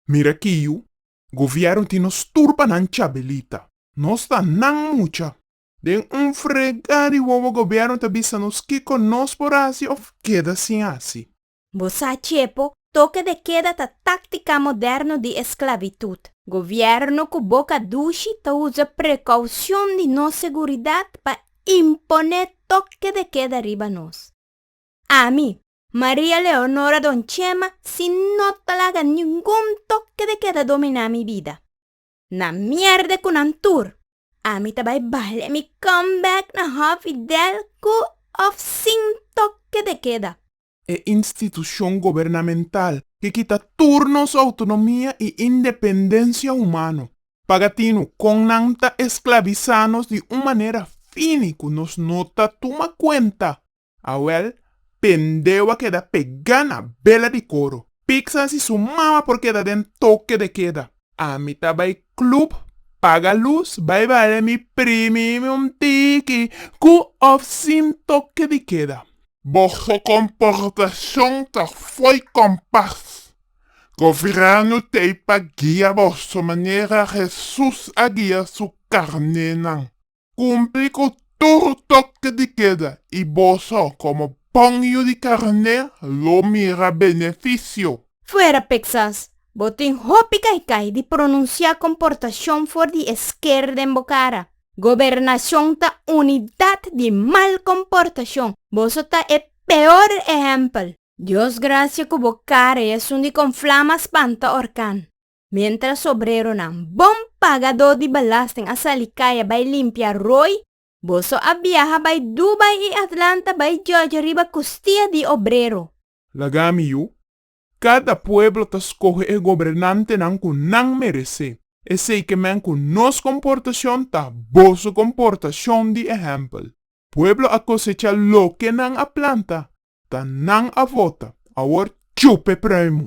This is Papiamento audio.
Mira kiu govièrnu tin nos tur pa nan chabelita. Nos ta nan mucha. Den un fregá di wowo gobièrnu ta bisa nos kiko nos por hasi òf keda sin hasi. Bo sa chepo, toke de keda ta táktika moderno di esklavitut. Govièrnu ku boka dushi ta usa prekoushon di nos seguridat pa impon'é toke de keda riba nos. Ami, Maria Leonora Don Chema si no ta laga ningun toke de keda dominá mi bida. Na mierde ku nan tur, ami ta bai bale mi comeback na Hòf Fidel ku òf sin toke de keda. E institushon gobernamental ke kita tur nos outonomia i independensia humano. Paga tinu kon nan ta esklabisá nos di un manera fini ku nos no ta tuma kuenta. Awel, Pendeu a keda pegá na bela di koro. Pixan si su mama por keda den toke de keda. Ami ta bai club, paga lus, bai bale mi primi mi un tiki, ku òf sin toke di keda. Boso komportashon ta fo'i kompas. Goviernu t'ei pa guia boso manera Hesus a guia su karnénan. Kumpli ku tur tokte di keda i boso komo pòngiu di karné lo mira benefisio. Fuera Peksas, bo tin hopi kaikai di pronunsiá komportashon for di esker den bo kara. Gobernashon ta unidat di mal komportashon. Boso ta e peor ehèmpel. Dios grasia ku bo kara i asun di kon flama spanta orkan. Mientras obreronan, bon pagadó di belasting a sali kaya bai limpia roi, boso a biaha bai Dubai i Atlanta bai judge riba kustia di obrero. Laga mi yu, Kada pueblo ta skohe e gobernantenan ku nan meresé, esei ke men ku nos komportashon ta boso komportashon di ehèmpel. Pueblo a kosecha loke nan a planta, ta nan a vota, awor chupe pruimu!